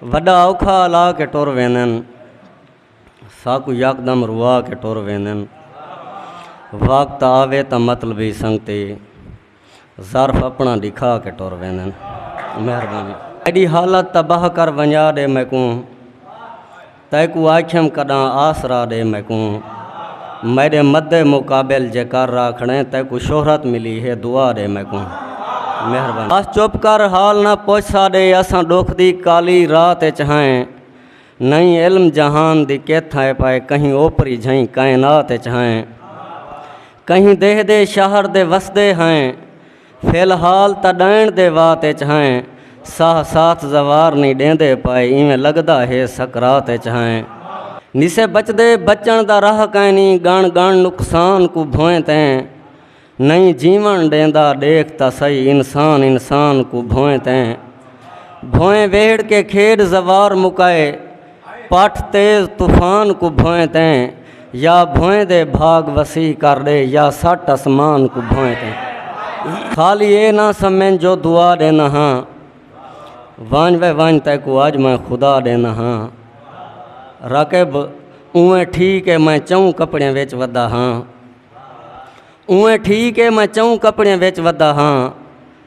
وݙا اوکھا الا کے ٹر ویندن ساکوں یکدم روا کے ٹر ویندن وقت آوے تاں مطلبی سنگتی ظرف اپنا ڈکھا کے ٹر ویندن مہربانی ایڈی حالت تباہ کر ونجا ڈے میکوں تیکوں آکھیم کڈاں آسرا ڈے میکوں میڈے مد مقابل جے کر را کھڑیں تیکوں شہرت ملی ہے دعا ڈے میکوں مہربانی بس چپ کر حال نہ پوچھ ساڈے اساں ڈکھ دی کالی رات اچ ہائیں نئیں علم جہان دی کیتھ ہے پائے کہیں اوپری جھئیں کائنات اچ ہائیں کہیں دیہہ دے شہر دے وسدے ہائیں فی الحال تاں ڈائنڑ دے وات اچ ہیں ساہ ساتھ زوار نی ڈیندے پائے ایویں لگدا ہے سکرات اچ ہیں نسے بچدے بچن دا راہ کائنی گن گن نقصان کو بھویں تیں نہیں جیون ڈیندا ڈیکھ تا سہی انسان انسان کو بھویں تیں بھویں ویڑھ کے کھیڈ زوار مکائے پٹھ تیز طوفان کو بھوئیں تیں یا بھوئیں دے بھاگ وسیع کر ڈے یا سٹ اسمان کو بھوئیں تیں خالی اے نہ سمن جو دعا دینا ہاں وانج وے وانج تے کو آج میں خدا دینا ہاں رقب اویں ٹھیک ہے میں چون کپڑے وچ ودا ہاں اویں ٹھیک ہے میں چون کپڑے وچ ودا ہاں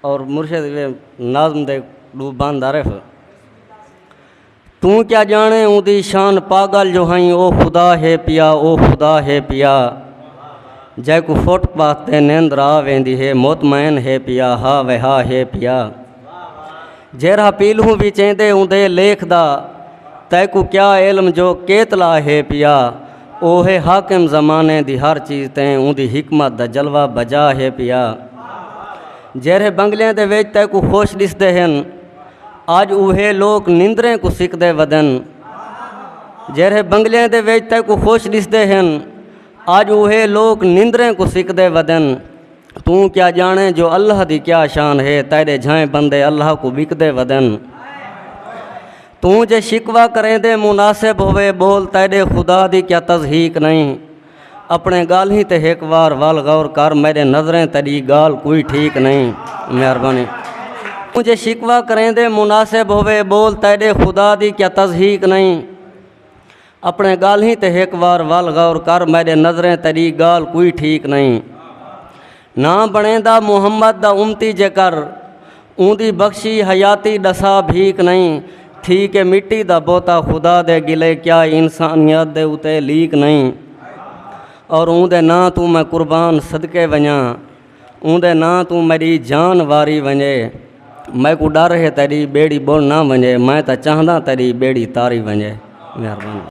اور مرشد دے نظم دے ڈو بند عرف توں کیا جانے اوں دی شان پاگل جو ہائیں او خدا ہے پیا او خدا ہے پیا جے کو فٹ پاتھ تے نیند را ویندی ہے مطمئن ہے پیا ہا وہا ہے پیا جیرا پیلوں بھی چیندے اوں دے لیکھ دا تے کو کیا علم جو کیتلا ہے پیا اوہے حاکم زمانے دی ہر چیز تے اوندی حکمت دا جلوہ بجا ہے پیا جیرھے بنگلیاں دے وچ تے کو خوش ڈسدے ہن اج اوہے لوک نندریں کو سکدے ودن جیرھے بنگلیاں دے وچ تے کو خوش ڈسدے ہن اج اوہے لوک نندریں کو سکدے ودن توں کیا جانے جو اللہ دی کیا شان ہے تیرے جھائیں بندے اللہ کو بکدے ودن توں جے شکوہ کریندے مناسب ہوئے بول تیڈے خدا دی کیا تضحیق نئیں اپنے گالہیں تے ہک وار ول غور کر میڈے نظریں تیڈی گال کوئی ٹھیک نئیں مہربانی توں جے شکوہ کریندے مناسب ہوئے بول تیڈے خدا دی کیا تضحیق نئیں اپݨیں ڳالھیں تے ہک وار ول غور کر میݙے نظریں تیݙی ڳالھ کوئی ٹھیک نئیں نہ بݨیندا محمد دا امتی جے کر اوندی بخشی حیاتی ݙسا بھیک نئیں تھی کہ مٹی دا بوتا خدا دے گلے کیا انسانیت دے اتے لیک نئیں اور اوندے نا توں میں قربان صدقے ونجاں اوندے نا توں میری جان واری ونجے میں کو ڈر ہے تیری بیڑی بول نہ ونجے میں تا چاہندہ تیری بیڑی تاری ونجے مہربانی